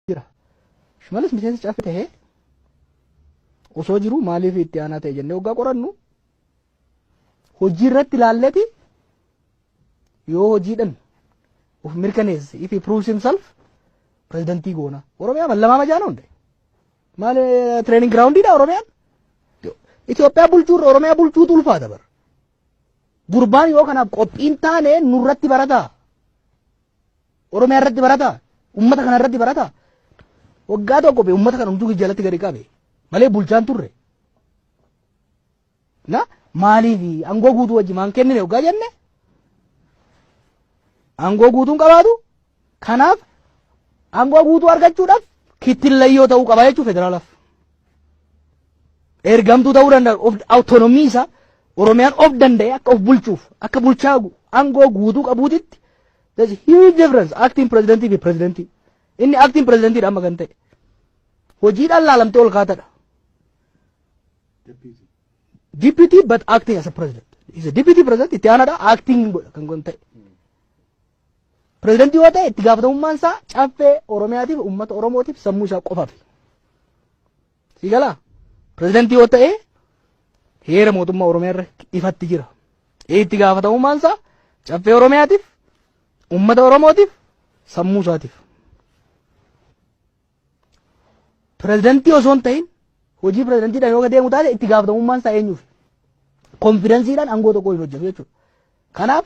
jira. Shimalis miseensa caffee ta'ee osoo jiru maaliif itti aanaa ta'e jennee waggaa qorannu hojii irratti ilaalleti yoo hojiidhan of mirkaneesse if he proves himself pirezidantii goona. Oromiyaa mallamaa majaana hunde. Maal training groundidha Oromiyaan? Itoophiyaa bulchuurra Oromiyaa bulchuutu ulfaata bara. Gurbaan yoo kanaaf qophiin taane nurratti barataa. Oromiyaa irratti barata ummata kana irratti barata waggaa tokko be ummata kana hunduu jalatti gadi qabe malee bulchaan turre na maaliif angoo guutuu wajji maan kennine waggaa jenne angoo guutuun qabaatu kanaaf angoo guutuu argachuudhaaf kittillayyoo ta'uu qaba jechuun federaalaaf ergamtuu ta'uu danda'a of awutonomii isaa oromiyaan of danda'e akka of bulchuuf akka bulchaa angoo guutuu qabuutitti There's a huge difference acting presidentii fi presidentii. Inni acting presidentiidha amma kan ta'e. Hojiidhaan laalamtee ol kaatadha. Deputy but acting as a president. Is a deputy president itti aanaadha acting godha kan kun ta'e. Prezidentii yoo ta'e itti gaafatamummaan isaa caffee Oromiyaatiif uummata Oromootiif sammuu isaa qofaaf. Si galaa? Pirezidantii yoo ta'e heera mootummaa Oromiyaa irra ifatti jira. Itti gaafatamummaan isaa caffee Oromiyaatiif, uummata Oromootiif, sammuu isaatiif. Pirezidantii osoo hin ta'in hojii pirezidantiidhaan yoo deemu taate itti gaafatamummaan isaa eenyuuf? Konfidansiidhaan aangoo tokko hin hojjetu jechuudha. Kanaaf